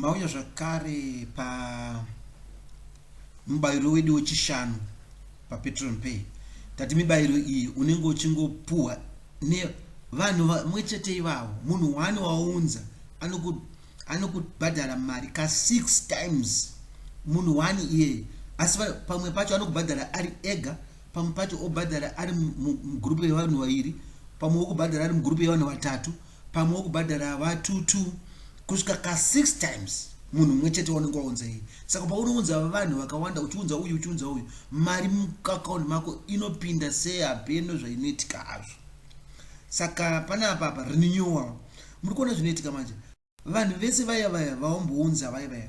mauya zvakare pamubayiro wedu wechishanu papatron pay tati mibayiro iyi unenge uchingopuhwa nevanhu vamwe chete ivavo munhu wani waunza anokubhadhara mari ka six times munhu wani iyeye asi pamwe pacho anokubhadhara ari ega pamwe pacho obhadhara ari mugroup yevanhu vairi pamwe wokubhadhara ari mugroup yevanhu vatatu pamwe wokubhadhara vatutu kusvika ka six times munhu mumwe chete waunenge waunza iyi saka paunounza vanhu vakawanda uchiunza uyu uchiunza uyu mari muakaunti mako inopinda sehapeno zvainoitika hazvo saka pane apa apa renewal muri kuona zvinoitika manje Vanhu vese vaya vaya vaombounza vaya vaya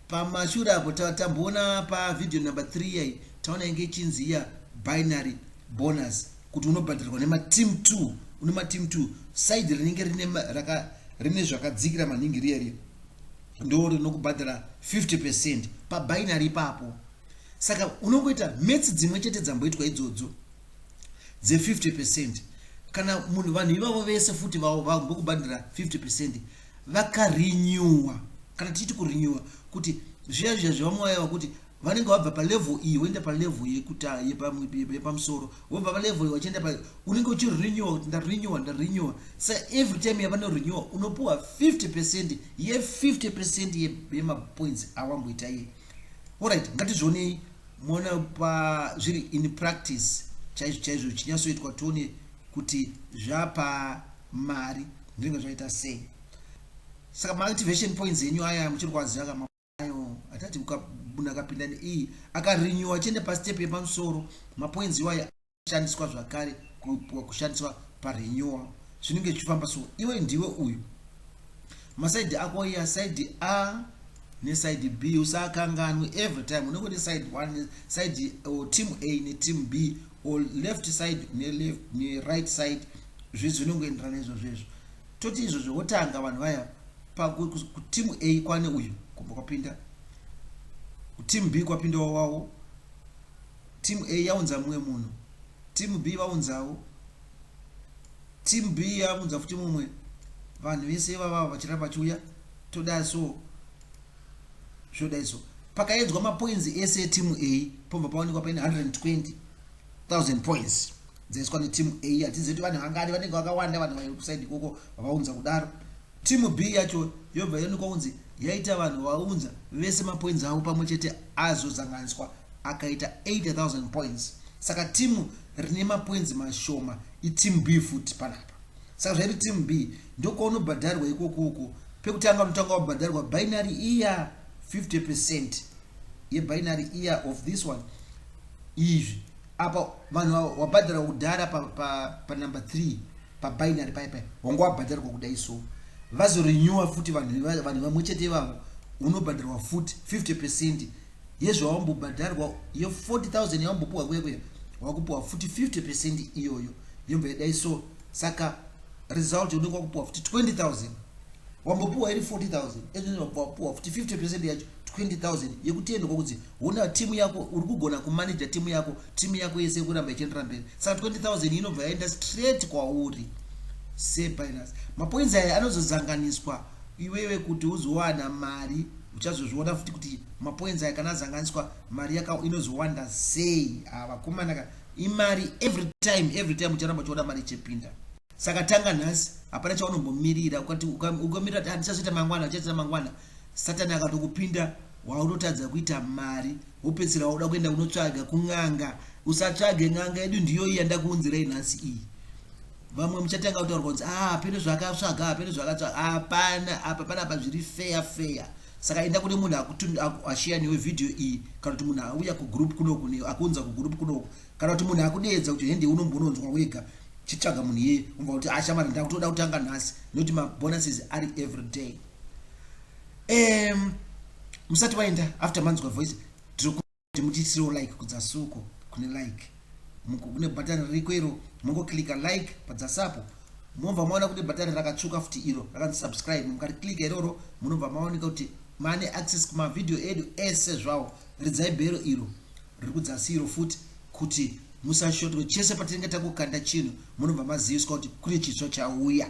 pamashure apo tamboona pavideo number 3 iyai taona inge ichinzi iya binary bonus kuti unobhadharirwa nemateam 2 une mateam 2 side rinenge rine zvakadzikira maningi riya riya ndo rinokubhadhara 50 percent pabinary ipapo saka unongoita mets dzimwe chete dzamboitwa idzodzo dze 50 percent kana munhu vanhu ivavo vese futi vambokubhandira 50 percent vakarenewa kana tichiti kurenewa kuti zviya zviya zvevamwaya vakuti vanenge vabva palevel iyi voenda palevel yekuta yepamusoro vobva palevel iyi vachienda pa unenge uchirenewa kuti ndarenewa ndarenewa sa every time yavanorenewa unopiwa 50 percent ye 50 percent yemapoints awamboita iye orit ngatizvionei Moona pa zviri in practice chaizvo chaizvo chinyatsoitwa tione kuti zvapa mari zvinenge zvaita sei. Saka ma activation points enyu aya muchiri kwaziva kama hatati munhu akapinda neiyi akarenewa achienda pastep yepamusoro mapoints iwayo kushandiswa zvakare kushandiswa parenewal zvinenge zvichifamba so iwe ndiwe uyu masaidi ako iya saidi a nesaidi b usakanganwe every time unenge une saidi one saidi or team a neteam b or left side neleft neright side zvizi zvinongoenderana izvozvo izvo toti izvozvo wotanga vanhu vaya pakutimu a kwane uyu kubva kwapinda kutimu b kwapinda wawawo Team A yaunza mumwe munhu. Team B vaunzawo. Team B yaunza futi mumwe. Vanhu vese ivava vachiramba vachiuya. Toda so. Zvoda so. Pakaedzwa mapoinzi ese etimu A pobva paonekwa paine 120,000 points dzaiswa netimu A. Hatizivi kuti vanhu vangani vanenge vakawanda vanhu vairi kusaidi ikoko vavaunza kudaro. Team B yacho yobva yaonekwa kunzi yaita vanhu vaunza vese mapoints avo pamwe chete azozanganiswa akaita 8000 points. Saka team rine mapoints mashoma iteam B futi panapa. Saka zvairi team B ndokwaunobhadharwa ikoko uko pekutanga unotanga wabhadharwa binary iya 50% yebinary iya of this one izvi apa vanhu wabhadhara kudhara pa, pa, pa number 3 pa binary paya paya wanga wabhadharwa kudai so vazo renewer futi vanhu vanhu vamwe chete ivavo unobhadharwa futi 50 percent yezvawambobhadharwa ye 40000 yawambopuwa kuya kuya wakupuwa futi 50 percent iyoyo yobva yadai so saka result unenge wakupuwa futi 20000 wambopuwa iri 40000 ezvino wapuwa futi 50 percent yacho 20000 yekuti ende kokuti hona team yako uri kugona kumanager team yako team yako yese kuramba ichienderera mberi saka 20000 inobva yaenda straight kwauri sebinas mapoints aya anozozanganiswa iwewe kuti uzowana mari uchazozviona futi kuti mapoints aya kana azanganiswa mari yaka inozowanda sei avakomana ah, ka imari every time every time ucharamba uchiona mari ichipinda saka tanga nhasi hapana chaunombomirira ukati ukamirira kuti handichazoita ah, mangwana uchazoita mangwana Satan akatokupinda waunotadza kuita mari wopedzisira wauda kuenda kunotsvaga kun'anga usatsvage n'anga yedu ndiyo iyi yandakuunzirai nhasi iyi vamwe muchatanga kutaura kunzi ah hapene zvakatsvaga hapene zvakatsvaga hapana apa pana apa zviri feya feya saka enda kune munhu ashiya newe vhidhiyo iyi kana kuti munhu auya kugroup kunoku akuunza kugroup kunoku kana kuti munhu akudeedza kuti hende unombononzwa wega chitsvaga munhu iyeye umva kuti ashamari ah, ndakutoda kutanga nhasi nokuti mabonuses ari everyday um musati waenda after manzwa voice tiri mutiitirewo like kudzasuko kune like kune bhatani ririko iro mongokilika like padzasapo mobva maona kune bhatani rakatsvuka futi iro rakanzi subscribe mukarikilika iroro munobva maoneka kuti maane access kumavhidhiyo edu ese zvawo ridzai bhero iro riri kudzasi iro futi kuti musashotwe chese patinenge takukanda chinhu munobva maziviswa kuti kune chitsva chauya